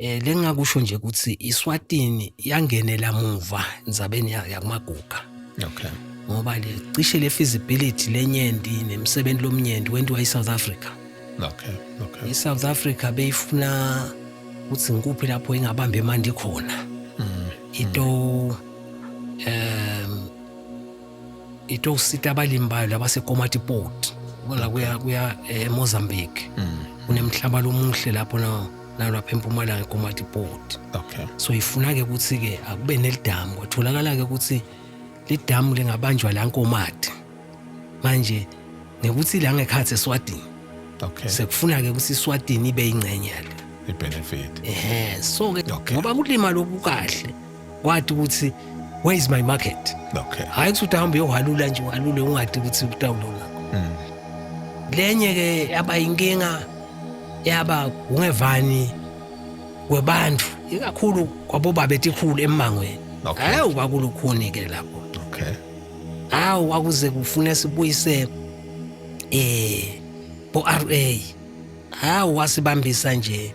Eh lengakusho nje ukuthi iSwatini yangenela muva indzabeni ya- yakumaguga Okay. ngoba le cishe le feasibility lenyenti nemsebenzi lomnyenti wentiwa eSouth Africa. Okay. Okay. ISouth Africa beyifuna ukuthi ngikuphi lapho ingabambe mandi khona. Mm. Ito um e tlo sita balimi bayo labasekomatipoti bona kuya kuya eh, emozambique kunemhlaba lomuhle lapho na- nalapha empumalanga ekomatipoti okay so ifuna-ke ukuthi-ke akube nelidamu kwatholakala-ke ukuthi lidamu lingabanjwa la nkomati manje ngekuthi la ngekhathi eswatini okay sekufuna-ke ukuthi iswatini ibe yingxenye yale ibenefit ehe so-ke Okay. ngoba kulima loku kahle wati ukuthi where is my market okay hayi ukuthi uhambe uyohalula nje uhalule ungadi ukuthi utawulo ngakho mm. lenye ke yaba inkinga yaba ungevani kwebantu ikakhulu kwabobaba etikhulu emangweni okay. hayi kwakulukhuni ke lapho okay hayi kwakuze kufune sibuyise eh bo RA hayi wasibambisa nje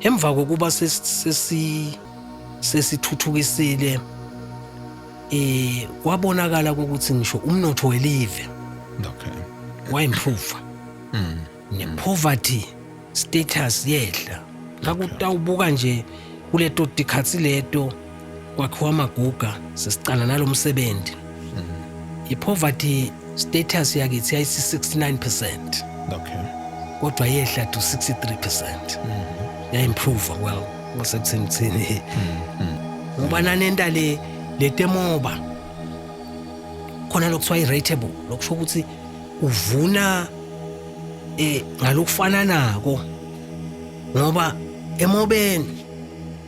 Emva kokuba sesithuthukisile sesi, eh kwabonakala ukuthi ngisho umnotho welive okay waimprove mm. ne poverty status yehla ngakutawubuka nje kuleto tikhatsi leto kwakhiwa amaguga sesiqala nalo msebenzi i-poverty status yakithi yayisi-69 percent okay kodwa yehla to 63 percent ya-improve well kwasekutheni kuthini ngoba nanenta le le temoba khona lokuthiwa i-rateable lokusho ukuthi uvuna um ngalokufananako ngoba emobeni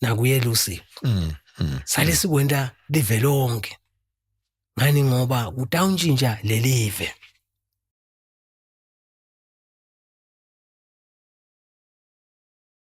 nakuye Lucy mm, mm, sale mm. sikwenta live lonke ngani ngoba kutawuntshintsha lelive